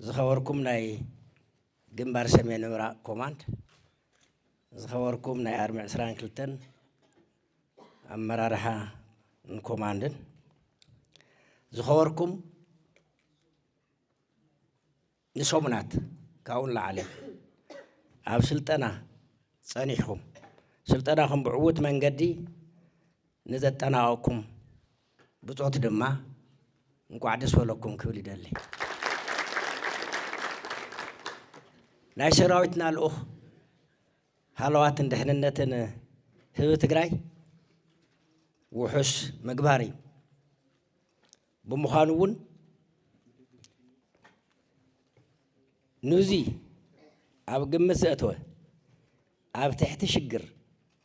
ዝኸበርኩም ናይ ግንባር ሰሜን ምብራቕ ኮማንድ፣ ዝኸበርኩም ናይ ኣርሚ ዕስራን ክልተን ኣመራርሓን ኮማንድን፣ ዝኸበርኩም ንሰሙናት ካብኡ ንላዕሊ ኣብ ስልጠና ጸኒሕኩም ስልጠናኹም ብዕዉት መንገዲ ንዘጠናቐቕኩም ብጾት ድማ እንቋዕ ደስ በለኩም ክብል ይደሊ። ናይ ሰራዊትና ልኡኽ ሃለዋትን ድሕንነትን ህቢ ትግራይ ውሑስ ምግባር እዩ። ብምዃኑ እውን ኑዚ ኣብ ግምት ዘእተወ ኣብ ትሕቲ ሽግር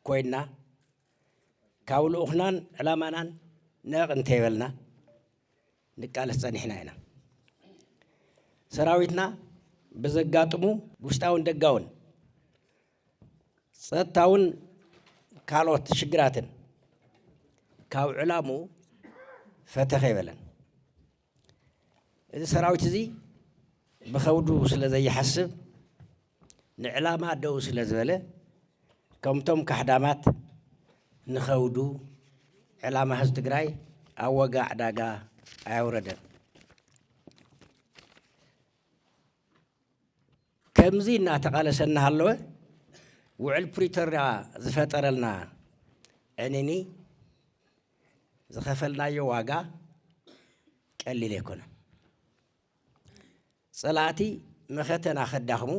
ኮይና ካብ ልኡኽናን ዕላማናን ነቕ እንተይበልና ንቃለስ ጸኒሕና ኢና። ሰራዊትና ብዘጋጥሙ ውሽጣውን ደጋውን ጸጥታውን ካልኦት ሽግራትን ካብ ዕላሙ ፈተኸ ይበለን። እዚ ሰራዊት እዚ ብኸብዱ ስለ ዘይሓስብ ንዕላማ ደው ስለ ዝበለ ከምቶም ካሕዳማት ንኸብዱ ዕላማ ህዝቢ ትግራይ ኣብ ዋጋ ዕዳጋ ኣየውረደን። ከምዚ እናተቓለሰ እናሃለወ ውዕል ፕሪቶሪያ ዝፈጠረልና ዕንኒ ዝኸፈልናዮ ዋጋ ቀሊል ኣይኮነን። ጸላእቲ መኸተና ከዳኽሙ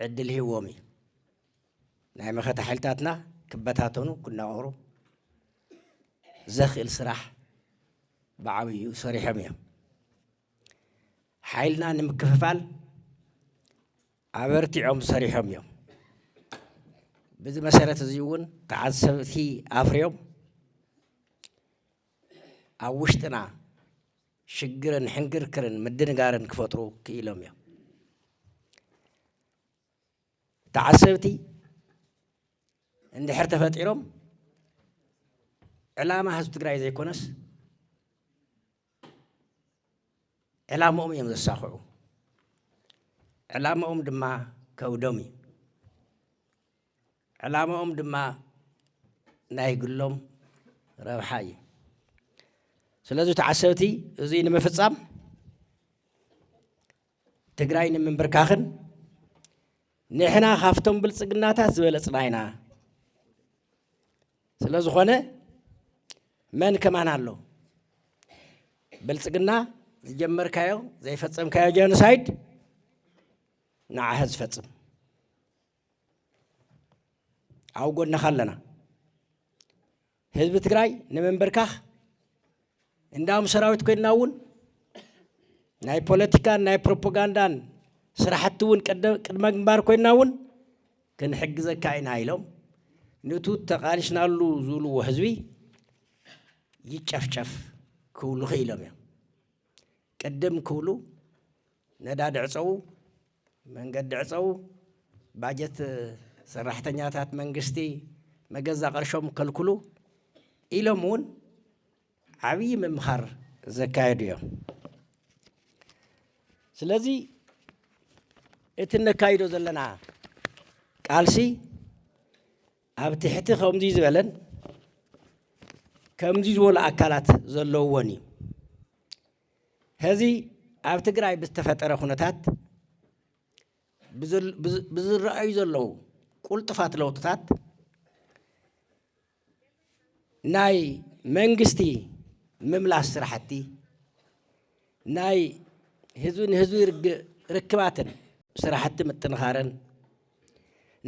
ዕድል ሂዎም እዩ። ናይ መኸተ ሓይልታትና ክበታተኑ ክናወሩ ዘኽእል ስራሕ ብዓብዩ ሰሪሖም እዮም። ሓይልና ንምክፍፋል ኣበርቲዖም ሰሪሖም እዮም። በዚ መሰረት እዚ እውን ተዓዘብቲ ኣፍርዮም ኣብ ውሽጥና ሽግርን ሕንግርክርን ምድንጋርን ክፈጥሩ ክኢሎም እዮም። ተዓዘብቲ እንድሕር ተፈጢሮም ዕላማ ህዝቢ ትግራይ ዘይኮነስ ዕላምኦም እዮም ዘሳኽዑ ዕላምኦም ድማ ከብዶም እዩ ዕላምኦም ድማ ናይ ግሎም ረብሓ እዩ ስለዚ ተዓሰብቲ እዙይ ንምፍፃም ትግራይ ንምንብርካኽን ንሕና ካፍቶም ብልፅግናታት ዝበለፅና ኢና ስለ ዝኾነ መን ከማን ኣሎ ብልፅግና ዝጀመርካዮ ዘይፈፀምካዮ ጀኖሳይድ ንዓኸ ዝፈፅም ኣብ ጎንኻ ኣለና ህዝቢ ትግራይ ንምንብርካኽ እንዳም ሰራዊት ኮይንና እውን ናይ ፖለቲካን ናይ ፕሮፓጋንዳን ስራሕቲ እውን ቅድመ ግንባር ኮይንና እውን ክንሕግዘካ ኢና ኢሎም ንቱ ተቓሊስናሉ ዝብልዎ ህዝቢ ይጨፍጨፍ ክብሉ ክኢሎም እዮም። ቅድም ክብሉ ነዳዲ ዕፀዉ፣ መንገዲ ዕፀዉ፣ ባጀት ሰራሕተኛታት መንግስቲ መገዛ ቅርሾም ከልክሉ ኢሎም እውን ዓብዪ ምምኻር ዘካየዱ እዮም። ስለዚ እቲ እነካይዶ ዘለና ቃልሲ ኣብ ትሕቲ ከምዙይ ዝበለን ከምዙይ ዝበሉ ኣካላት ዘለውዎን እዩ። ሀዚ ኣብ ትግራይ ብዝተፈጠረ ኩነታት ብዝረኣዩ ዘለዉ ቁልጡፋት ለውጥታት ናይ መንግስቲ ምምላስ ስራሕቲ ናይ ህዝቢ ንህዝቢ ርክባትን ስራሕቲ ምጥንኻርን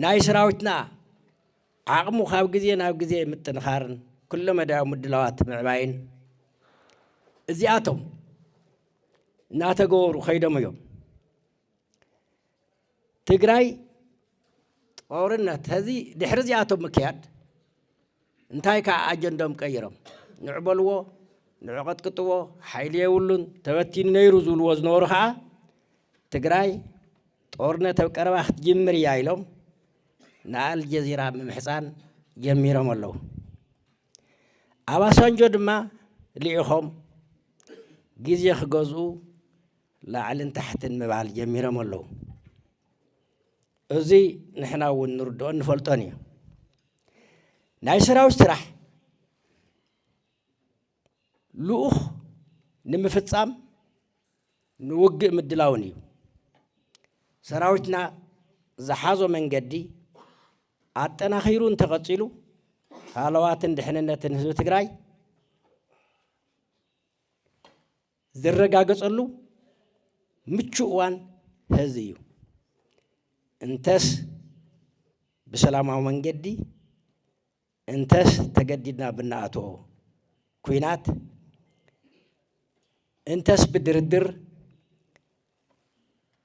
ናይ ሰራዊትና ዓቕሙ ካብ ግዜ ናብ ግዜ ምጥንኻርን ኩለ መዳያዊ ምድላዋት ምዕባይን እዚኣቶም እናተገበሩ ከይዶም እዮም ትግራይ ጦርነት ህዚ ድሕሪ እዚኣቶም ምክያድ እንታይ ከኣ ኣጀንድኦም ቀይሮም ንዑ በልዎ ንዑ ቀጥቅጥዎ ሓይሊ የብሉን ተበቲኑ ነይሩ ዝብልዎ ዝነበሩ ከኣ ትግራይ ጦርነት ኣብ ቀረባ ክትጅምር እያ ኢሎም ንኣልጀዚራ ምምሕፃን ጀሚሮም ኣለዉ። ኣባሳንጆ ድማ ልኢኾም ግዜ ክገዝኡ ላዕልን ታሕትን ምባል ጀሚሮም ኣለዉ። እዚ ንሕና እውን ንርድኦን ንፈልጦን እዩ። ናይ ሰራዊት ስራሕ ልኡኽ ንምፍፃም ንውግእ ምድላውን እዩ። ሰራዊትና ዝሓዞ መንገዲ ኣጠናኺሩ እንተቐፂሉ ሃለዋትን ድሕንነትን ህዝቢ ትግራይ ዝረጋገፀሉ ምቹእ እዋን ሐዚ እዩ። እንተስ ብሰላማዊ መንገዲ እንተስ ተገዲድና ብናኣቶ ኩናት እንተስ ብድርድር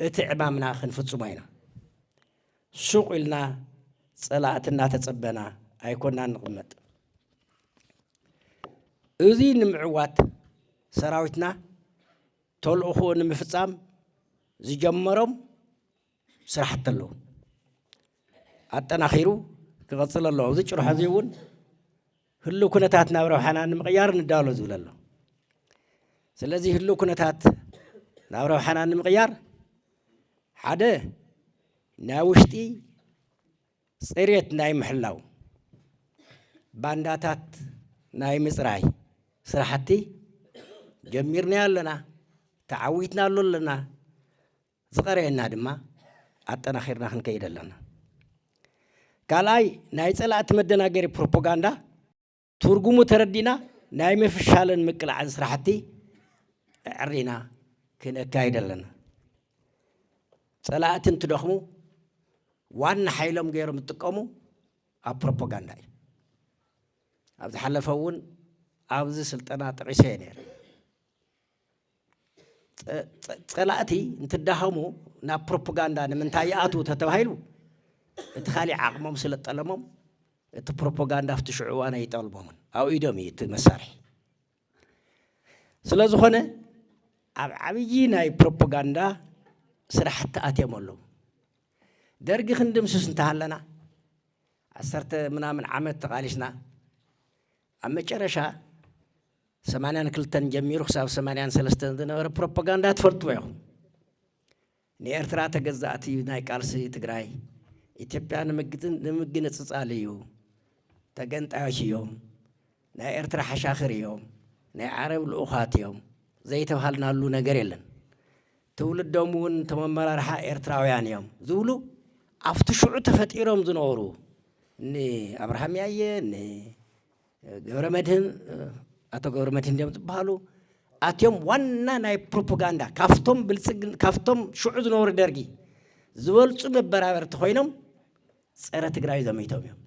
እቲ ዕማምና ክንፍጽሞ ኢና። ሱቕ ኢልና ጸላእቲ እናተጸበና ኣይኮናን ንቕመጥ። እዚ ንምዕዋት ሰራዊትና ተልእኾኡ ንምፍጻም ዝጀመሮም ስራሕቲ ኣለዉ። ኣጠናኺሩ ክቐፅል ኣለዎ። ኣብዚ ጭርሖ እዚ እውን ህልው ኩነታት ናብ ረብሓና ንምቕያር ንዳሎ ዝብል ኣሎ። ስለዚ ህልው ኩነታት ናብ ረብሓና ንምቕያር ሓደ ናይ ውሽጢ ፅሬት ናይ ምሕላው ባንዳታት ናይ ምፅራይ ስራሕቲ ጀሚርና ኣለና ተዓዊትና ኣሎ ኣለና ዝቐረየና ድማ ኣጠናኺርና ክንከይድ ኣለና። ካልኣይ ናይ ፀላእቲ መደናገሪ ፕሮፖጋንዳ ትርጉሙ ተረዲና ናይ ምፍሻልን ምቅላዕን ስራሕቲ ኣዕሪና ክነካይድ ኣለና። ፀላእቲ እንትደኽሙ ዋና ሓይሎም ገይሮም ዝጥቀሙ ኣብ ፕሮፓጋንዳ እዩ። ኣብ ዝሓለፈ እውን ኣብዚ ስልጠና ጠቂሰ እየ ነይረ። ፀላእቲ እንትዳኸሙ ናብ ፕሮፓጋንዳ ንምንታይ ይኣትዉ ተተባሂሉ እቲ ካሊእ ዓቕሞም ስለ ጠለሞም እቲ ፕሮፓጋንዳ ኣብቲ ሽዑ እዋን ኣይጠልሞምን ኣብ ኢዶም እዩ እቲ መሳርሒ ስለ ዝኾነ ኣብ ዓብዪ ናይ ፕሮፓጋንዳ ስራሕቲ ኣትዮም ኣለዉ ደርጊ ክንድምስስ እንተሃለና ዓሰርተ ምናምን ዓመት ተቓሊስና ኣብ መጨረሻ ሰማንያን ክልተን ጀሚሩ ክሳብ ሰማንያን ሰለስተን ዝነበረ ፕሮፓጋንዳ ትፈልጥዎ ኢኹም። ንኤርትራ ተገዛእቲ እዩ ናይ ቃልሲ ትግራይ ኢትዮጵያ ንምግንፅፃል እዩ ተገንጣዮች እዮም ናይ ኤርትራ ሓሻኽር እዮም ናይ ዓረብ ልኡኻት እዮም ዘይተባሃልናሉ ነገር የለን ትውልዶም እውን እቶም ኣመራርሓ ኤርትራውያን እዮም ዝብሉ ኣብቲ ሽዑ ተፈጢሮም ዝነበሩ ንኣብርሃም ያየ ገብረ መድህን ኣቶ ገብረ መድህን ድዮም ዝበሃሉ ኣትዮም ዋና ናይ ፕሮፓጋንዳ ካብቶም ብልፅግ ካብቶም ሽዑ ዝነበሩ ደርጊ ዝበልፁ መበራበርቲ ኮይኖም ፀረ ትግራይ ዘሚቶም እዮም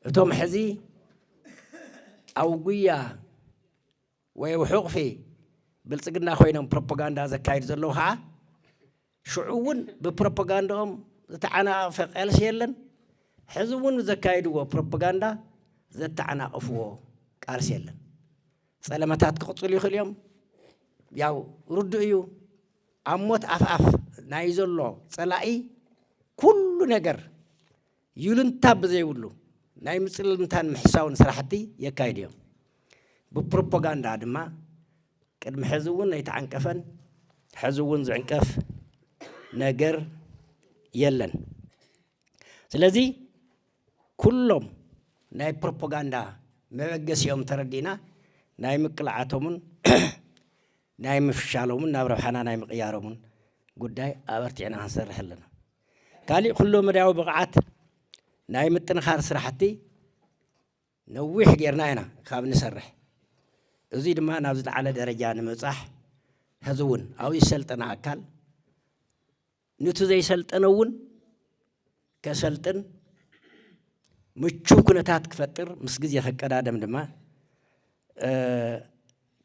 እቶም ሕዚ ኣብ ጉያ ወይ ኣብ ሕቑፊ ብልጽግና ኮይኖም ፕሮፖጋንዳ ዘካይዱ ዘለዉ ኸዓ ሽዑ እውን ብፕሮፖጋንዳኦም ዝተዓናቐፈ ቐልሲ የለን ሕዚ እውን ዘካይድዎ ፕሮፖጋንዳ ዘተዓናቕፍዎ ቃልሲ የለን። ጸለመታት ክቕጽሉ ይኽእሉ እዮም። ያው ርዱእ እዩ። ኣብ ሞት ኣፍኣፍ ናይ ዘሎ ጸላኢ ኩሉ ነገር ይሉንታ ብዘይብሉ ናይ ምጽልምታን ምሕሳውን ስራሕቲ የካይዱ እዮም። ብፕሮፖጋንዳ ድማ ቅድሚ ሕዚ እውን ኣይተዓንቀፈን ሕዚ እውን ዝዕንቀፍ ነገር የለን። ስለዚ ኩሎም ናይ ፕሮፖጋንዳ መበገሲኦም ተረዲእና ናይ ምቅላዓቶምን ናይ ምፍሻሎምን ናብ ረብሓና ናይ ምቕያሮምን ጉዳይ ኣበርቲዕና ክንሰርሕ ኣለና። ካሊእ ኩሎ መዳያዊ ብቕዓት ናይ ምጥንኻር ስራሕቲ ነዊሕ ጌርና ኢና ካብ ንሰርሕ እዙይ ድማ ናብ ዝለዓለ ደረጃ ንምብፃሕ ሕዚ እውን ኣብኡ ዝሰልጠነ ኣካል ንቲ ዘይሰልጠነ እውን ከሰልጥን ምቹው ኩነታት ክፈጥር ምስ ግዜ ከቀዳደም ድማ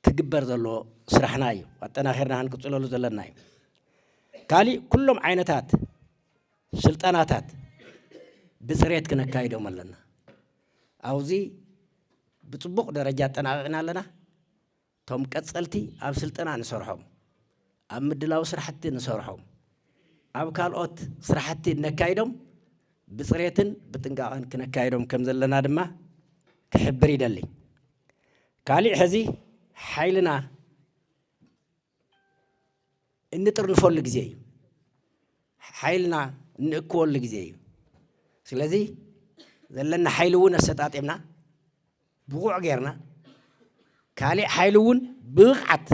ክግበር ዘለዎ ስራሕና እዩ። ኣጠናኺርና ክንቅፅለሉ ዘለና እዩ። ካሊእ ኩሎም ዓይነታት ስልጠናታት ብፅሬት ክነካይዶም ኣለና። ኣብዚ ብፅቡቕ ደረጃ ኣጠናቒቕና ኣለና። እቶም ቀፀልቲ ኣብ ስልጠና ንሰርሖም፣ ኣብ ምድላው ስራሕቲ ንሰርሖም፣ ኣብ ካልኦት ስራሕቲ እነካይዶም ብፅሬትን ብጥንቃቐን ክነካይዶም ከም ዘለና ድማ ክሕብር ይደሊ። ካሊእ ሕዚ ሓይልና እንጥርንፈሉ ግዜ እዩ። ሓይልና እንእክወሉ ግዜ እዩ። ስለዚ ዘለና ሓይሊ እውን ኣሰጣጢምና ብቑዕ ጌርና ካሊእ ሓይሊ እውን ብብቕዓት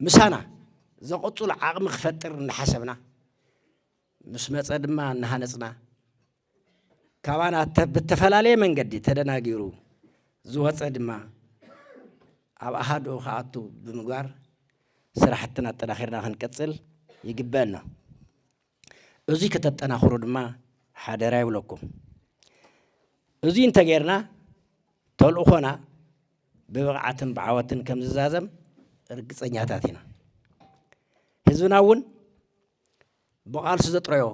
ምሳና ዘቐፅሉ ዓቕሚ ክፈጥር እናሓሰብና ምስ መፀ ድማ እናሃነፅና ካባና ብተፈላለየ መንገዲ ተደናጊሩ ዝወፀ ድማ ኣብ ኣሃድኡ ክኣቱ ብምግባር ስራሕትና ኣጠናኺርና ክንቅፅል ይግበአና። እዙይ ከተጠናኽሩ ድማ ሓደራ ይብለኩም። እዙይ እንተጌርና ተልእኾና ብብቕዓትን ብዓወትን ከም ዝዛዘም ርግፀኛታት ኢና። ህዝብና እውን ብቓልሱ ዘጥረዮ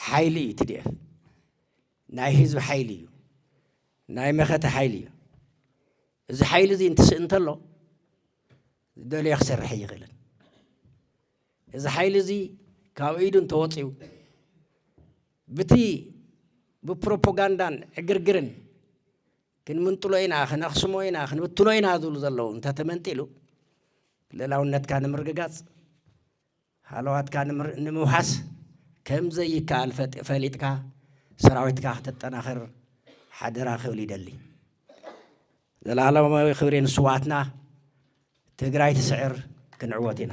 ሓይሊ እዩ ቲዲኤፍ ናይ ህዝቢ ሓይሊ እዩ ናይ መኸተ ሓይሊ እዩ እዚ ሓይሊ እዚ እንትስእ እንተሎ ዝደለዮ ክሰርሕ ኣይኽእልን እዚ ሓይሊ እዚ ካብ ኢዱ እንተወፅኡ ብቲ ብፕሮፓጋንዳን ዕግርግርን ክንምንጥሎ ኢና፣ ክነኽስሞ ኢና፣ ክንብትኖ ኢና ዝብሉ ዘለዉ እንተተመንጢሉ ልእላውነትካ ንምርግጋጽ ሃለዋትካ ንምውሓስ ከም ዘይከኣል ፈሊጥካ ሰራዊትካ ክተጠናኽር ሓደራ ክብል ይደሊ። ዘላለማዊ ክብሪ ንስውኣትና! ትግራይ ትስዕር! ክንዕወት ኢና!